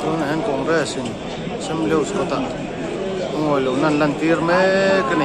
Tunah hian Congress in Sam Lewis kawtah a ngawi lohna an lantir mek a ni.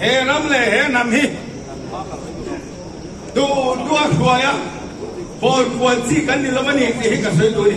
he ram le he nam hi tu tu a khua ya bol khua chi kan ni lo mani ti hi ka soi tu ni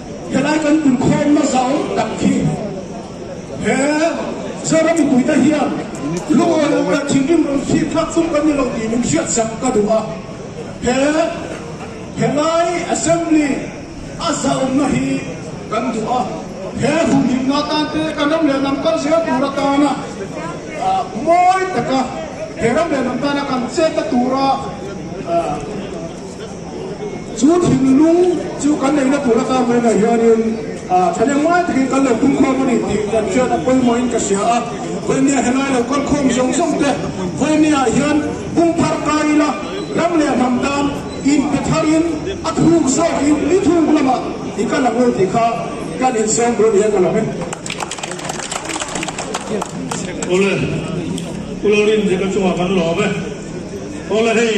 Helai kan inkhawmna zau tak khi he Zara mipuite hian lungawi lo rat thin rim rawn fik thlak tum kan ni lo tih min hriat sak ka duh a, he helai Assembly a zauhna hi kan duh a, he humhimna atan te kan ram leh lam kal zel tur atana mawi taka he ram leh lam tana kan chek a tura. Chu thinlung chu kan neihna tur ata mai lah hianin thlan engmai takin kan lo pung khawm a ni tih kan hriat a pawimawhin ka hria a, vawinia helai lo kal khawm zawng zawng te vawinia hian pungphar kai ila ram leh hnam tan in pe thar in a thuk zawk in ni thuk lamah i kal ang lo tih kha kan in sawm rih a nih a ka la hme. Awle, u lo rin zi ka chungah kan lawm e. Awle hei.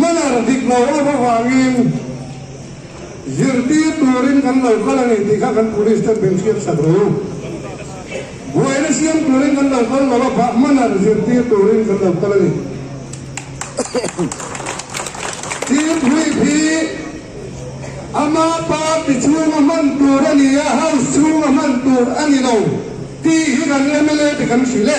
Manner dik lo a va vangin zirtir turin kan lo kal a ni tih kha kan police ten min hriatsak rih u. Buaina siam turin kan lo kal lo a pah manner zirtir turin kan lo kal a ni. Tir hruip hi ama party chhung a hman tur a ni a, house chhung a hman tur a ni lo tih hi kan mla te kan hrilh e.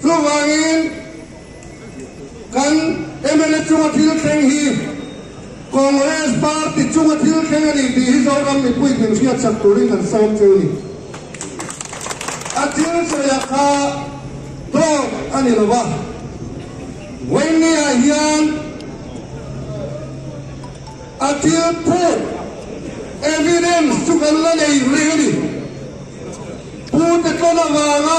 Chuvangin, kan mla chunga thil thleng hi Congress party chunga thil thleng a ni tih hi Zoram mipui hlimhriat sak turin kan sawm che a ni. A thil sawiah kha tawk a ni lova, Vawinia hian a thil phut, evidence, chu kan la nei reng a ni. Pute tlawn avanga,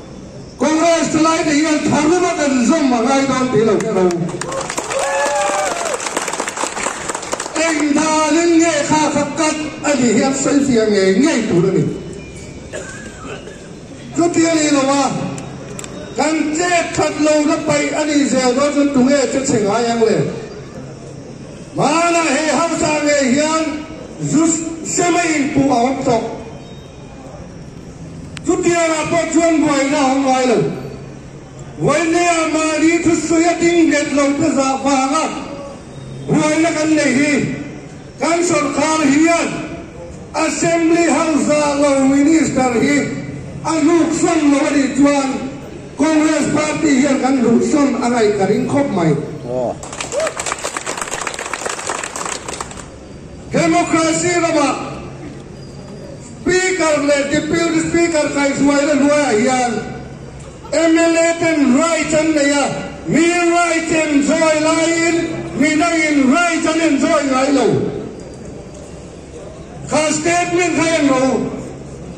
Congress te lai te hian tharum a kan zawm a ngai dawn tih loh ka lo. Eng dan in nge kha kha cut a nih hian selfie a ngei ngei tur a ni. Chutia ni lo a, kan che that lo na paih a nih zel dawn chuan tunge che che ngai ang le. Hmanah he hausa ngei hian zu hre maiin puh a awm tawh. Chutia lah pawh chuan buaina a awm ngai lo. Vainea Mari thusawi a ding nghet lo pezah vanga buaina kan nei hi kan sawrkar hian Assembly House zah lo Minister hi a luksawm lo a nih chuan Congress Party hian kan luhsawm a ngaih ka ring khawp mai. Democracy ramah Speaker leh Deputy Speaker kaihhruai la hnuaiah hian mla ten rights an nei a, mi rights enjoy laiin midain rights an enjoy ngai lo. Kha statement kha englo.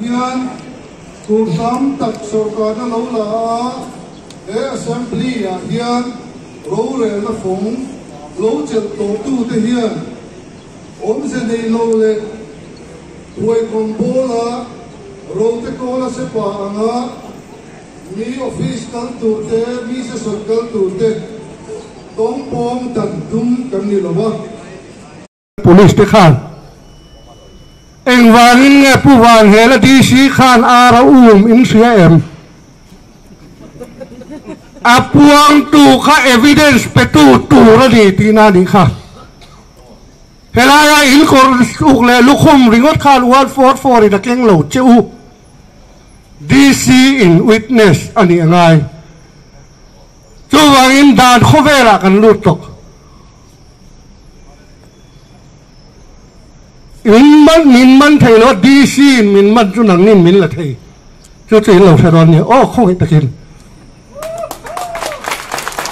hian tur hram tak sorkarna lo la a, he assembly ah hian rorelna fawng lo chelh tlawhtu te hian awmze nei lo leh puai kawng pawl a rote kawla sepa anga, Mi office kal tur te, mi sesawt kal tur te tawng pawng dan tum kan ni lo a. Police te khan engvangin nge Pu Vanghela DC khan ar a um in hria em? A puangtu kha evidence petu tur a ni tih na nih kha helaia in kawr uk leh lukhum ringawt khan uan fawr fawrin a keng lo che u. DC in witness a nih a ngai. Chuvangin dan khawvelah kan lut tawk. In man min man thei lo a, DC in min man chu nangin min la thei. Chu chu in lo hre rual nia, aw khawngei takin.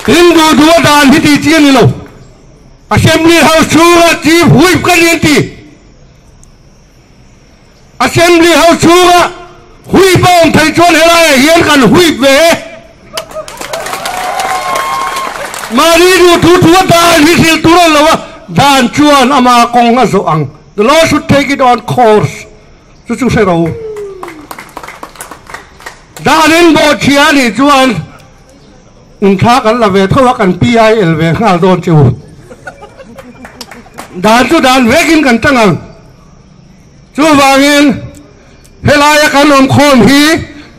Tin duhduh a dan hi titi a ni lo. Assembly House chhunga Chief Whip ka nih an ti. Assembly ho chhunga huip a awm thei chuan helaiah hian kan huip ve e. Mahni duh thu thu a dah an hrisel tur ang lo a, dan chuan ama kawng a zawh ang. The law should take it on course. Chu chu hre ro. Dah an en bawh chhia a nih chuan in thla kan la ve tho a, kan PIL ve nghal dawn che u. Dan chu dan vekin kan tang ang. Chuvangin, helaia kan awmkhawm hi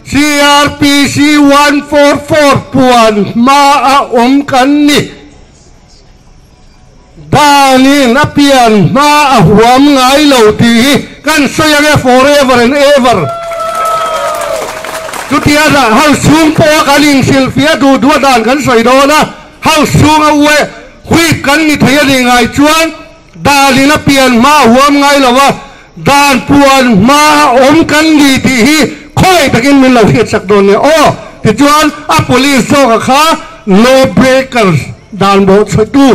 CRPC one four four puan hmaa awm kan ni. Danin a pian hma a huam ngai lo tih hi kan sawi ang e forever and ever. Chutia dah hauschung pawha kan inhrilhfiah duhdua dan kan sawi dawn a, hauschunga uaih huip kan ni thei a nih ngai chuan, dan in a pian hma a huam ngai lo a, dan puan hma a awm kan ni tih hi khawlei takin min lo hriat chak dawn nia aw tichuan a police zawkah kha law breakers dan bawh chhutu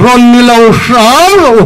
rawn ni lo hrau lo u.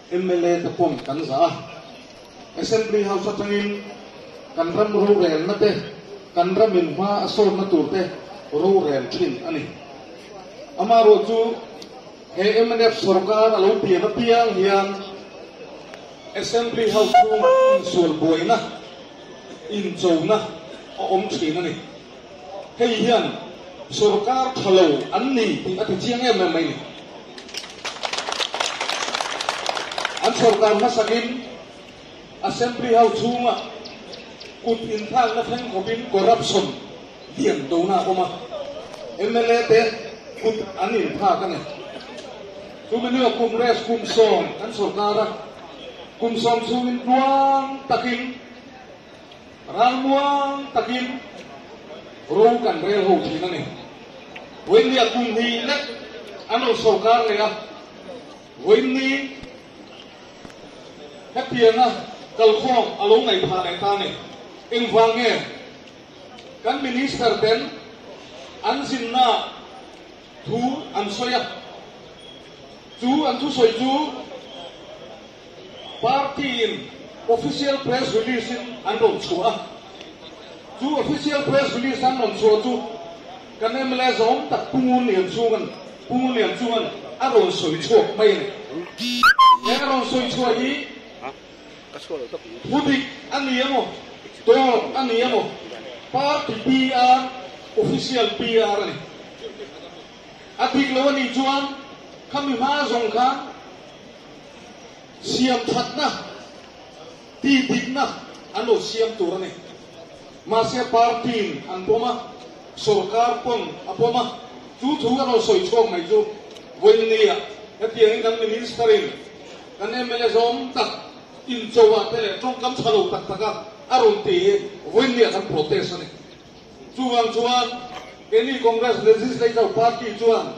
Mla te pawm kan zah a, Assembly House atangin kan ram rorelna te, kan ram in hma a sawnna tur te rorel thin a ni. Amaherawh chu he mnf sawrkar a lo pian apiang hian Assembly House chhungah insual buaina, inchona a awm thin a ni. hei hian sorkar tha lo an ni tih a ti chiang em em mai ni. An sorkar hmasakin Assembly ho chhunga kut inthlakna thleng khawpin corruption lian dona a awm a, mla te kut an inthlak a ni. Chumina Congress kum sawm kan sorkar a, kum sawm chhungin tluang takin, Ral muang takin ro kan rel ho thin a ni. Vawiinni a kum hnih lek an rawn so kar leh a. Vawiinni hetianga kalkhawm a lo ngaih phah leh ta ni. Engvang nge kan Minister ten an zinna thu an sawi a? Chu an thusawi chu. Party-in official press release an rawn chhuah a, chu official press release an rawn chhuah chu kan mla zawng tak Pu Ngunlian chhung a ni. Pu Ngunlian chuan a rawn sawi chhuak mai a ni. He a rawn sawi chhuah hi hudik a ni emaw, dawr a ni emaw, party PR, official PR a ni. A dik lo a nih chuan kha mi hma zawng khan, siam thatna, tih dikna an lo siam tur a ni. Mahse party-in an pawm a, sawrkar pawn a pawm a, chu thu a rawn sawi chhuak mai chu Vawinia hetiangin kan Minister-in kan mla zawng tak inchoah te leh tawngkam tha lo tak taka a rawn ti hi Vawinia kan protest a ni. Chuvang chuan Any Congress Legislator Party chuan,